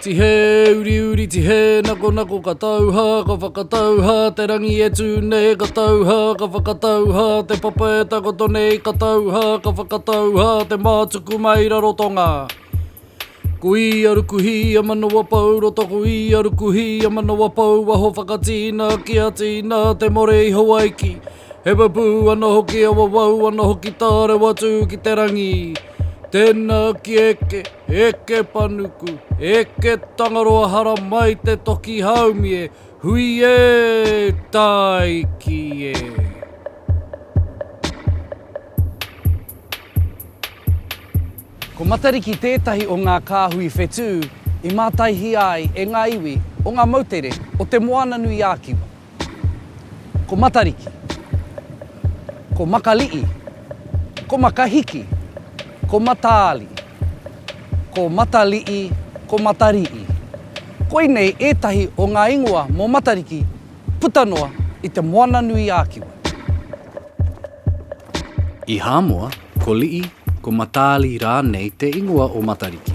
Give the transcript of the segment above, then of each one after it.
Tihe, uri uri, tihe, nako nako, ka tauha, ka whakatauha, te rangi e tū nei, ka tauha, ka whakatauha, te papa e takoto nei, ka tauha, ka whakatauha, te mātuku mai raro tonga. Ko ia ruku hī a Manawapou, roto ko ia ruku hī a Manawapou, waho whakatīna ki a tīna te more i Hawaiki. He pupū ana hoki a wawau ana hoki tā rewa tū ki te rangi. Tēnā ki eke, eke panuku, eke Tangaroa hara mai te toki haumie, hui ē, tāiki ē. Ko Matariki tētahi o ngā kāhui whetū i mātaihia ai e ngā iwi o ngā moutere o Te Moananui-a-Kiwa. Ko Matariki, ko Makali'i, ko Makahiki, ko Mataali, ko Matali'i, ko Matari'i. Koinei ētahi o ngā ingoa mō Matariki puta noa i Te Moananui-a-Kiwa. I Hāmoa, Ko Lii, ko Mataali rānei te ingoa o Matariki,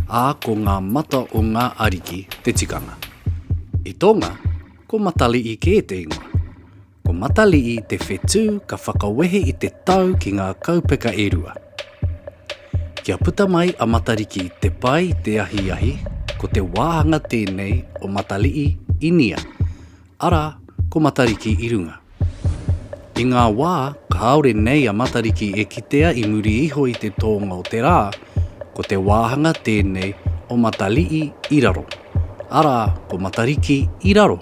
ā, ko ngā mata o ngā ariki te tikanga. I Tonga, ko Matalii kē te ingoa. Ko Matalii te whetū ka whakawehe i te tau ki ngā kaupeka e rua. Kia puta mai a Matariki te pai te ahiahi, ko te wāhanga tēnei o Matalii, Inia. Arā, ko Matariki i runga. I ngā wā kāore nei a Matariki e kitea i muri iho i te tōnga o te rā, ko te wāhanga tēnei o Matali'i i raro, arā, ko Matariki i raro.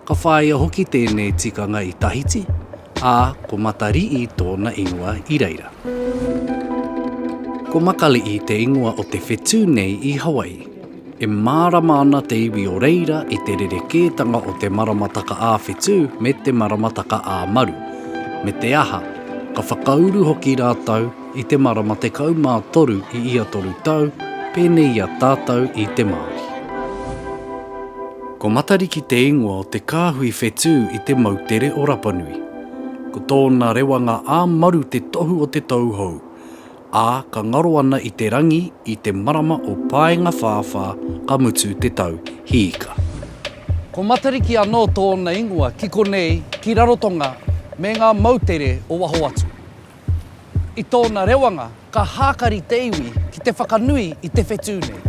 Ka whāia hoki tēnei tikanga i Tahiti, Ā, ko Matari'i tōna ingoa i reira. Ko Makali'i te ingoa o te whetū nei i Hawaii. E mārama ana te iwi o reira i te rerekētanga o te maramataka ā-whetū me te maramataka ā-maru, me te aha, ka whakauru hoki rātou I te marama tekau mā toru i ia toru tau, pēnei i a tātau i te Māori. Ko Matariki te ingoa o te kāhui whetū i te moutere o Rapanui. Ko tōna rewanga ā-maru te tohu o te tauhou, ā, ka ngaro ana i te rangi i te marama o Paengawhāwhā ka mutu te tau hīka. Ko Matariki anō tōna ingoa ki konei, ki Rarotonga me ngā moutere o waho atu. I tōna rewanga, ka hākari te iwi ki te whakanui i te whetū nei.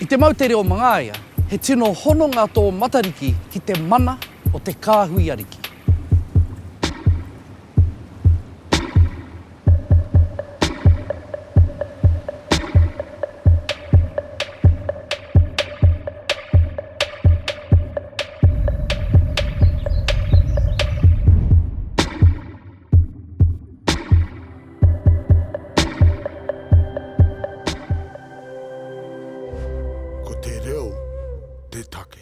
I te moutere o Mangaia, he tino hononga tō Matariki ki te mana o te kāhui ariki. Ko te reo te take.